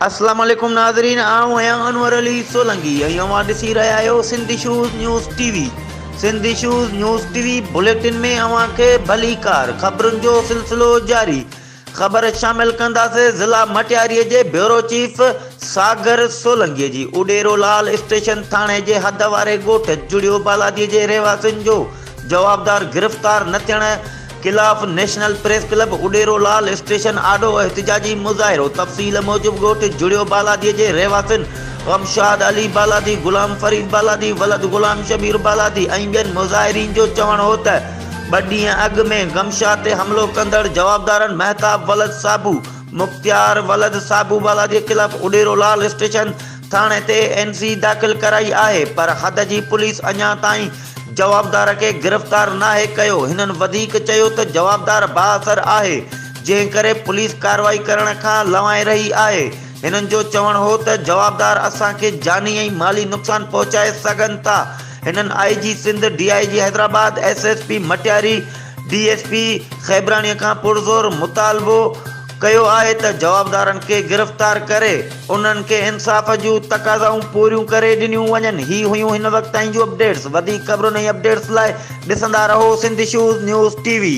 اسلام عليڪم ناظرين آئون آهيان انور علي سولنگي ۽ اوهان ڏسي رهيا آهيو Sindhi shows news T V Sindhi shows news T V bulletin ۾ اوهان کي ڀليڪار خبرن جو سلسلو جاري خبر شامل ڪنداسين ضلع مٽياري جي بيورو چيف ساگر سولنگي جي اڏيرو لال اسٽيشن ٿاڻي جي حد واري ڳوٺ جڙيو بالادي جي رهواسين جو جوابدار گرفتار نه ٿيڻ خلاف national press club Udero Lal station آڏو احتجاجي مظاهرو تفصيل موجب ڳوٺ جڙيو بالادي جي رهواسين غمشاد علي بالادي غلام فريد بالادي ولد غلام شبير بالادي ۽ ٻين مظاهرين جو چوڻ هو ته ٻه ڏينهن اڳ ۾ گمشا تي حملو ڪندڙ جوابدارن مهتاب ولد صابو، مختيار ولد صابو والا جي خلاف اڏيرو لال اسٽيشن ٿاڻي تي اين سي داخل ڪرائي آهي پر حد جي پوليس اڃا تائين جوابدار کي گرفتار ناهي ڪيو هنن وڌيڪ چيو ته جوابدار بااثر آهي جنهن ڪري پوليس ڪارروائي ڪرڻ کان لنوائي رهي آهي هنن جو چوڻ هو ته جوابدار اسان کي جاني ۽ مالي نقصان پهچائي سگهن ٿا هنن I G Sindh, D I G Hyderabad, S S P Matiari, D S P Khebrani کان پرزور مطالبو ڪيو آهي ته جوابدارن کي گرفتار ڪري انهن کي انصاف جون تقاضائون پوريون ڪري ڏنيون وڃن هي هيون هن وقت تائين جون اپڊيٽس وڌيڪ خبرن ۽ اپڊيٽس لاء ڏسندا رهو Sindh issues news T V.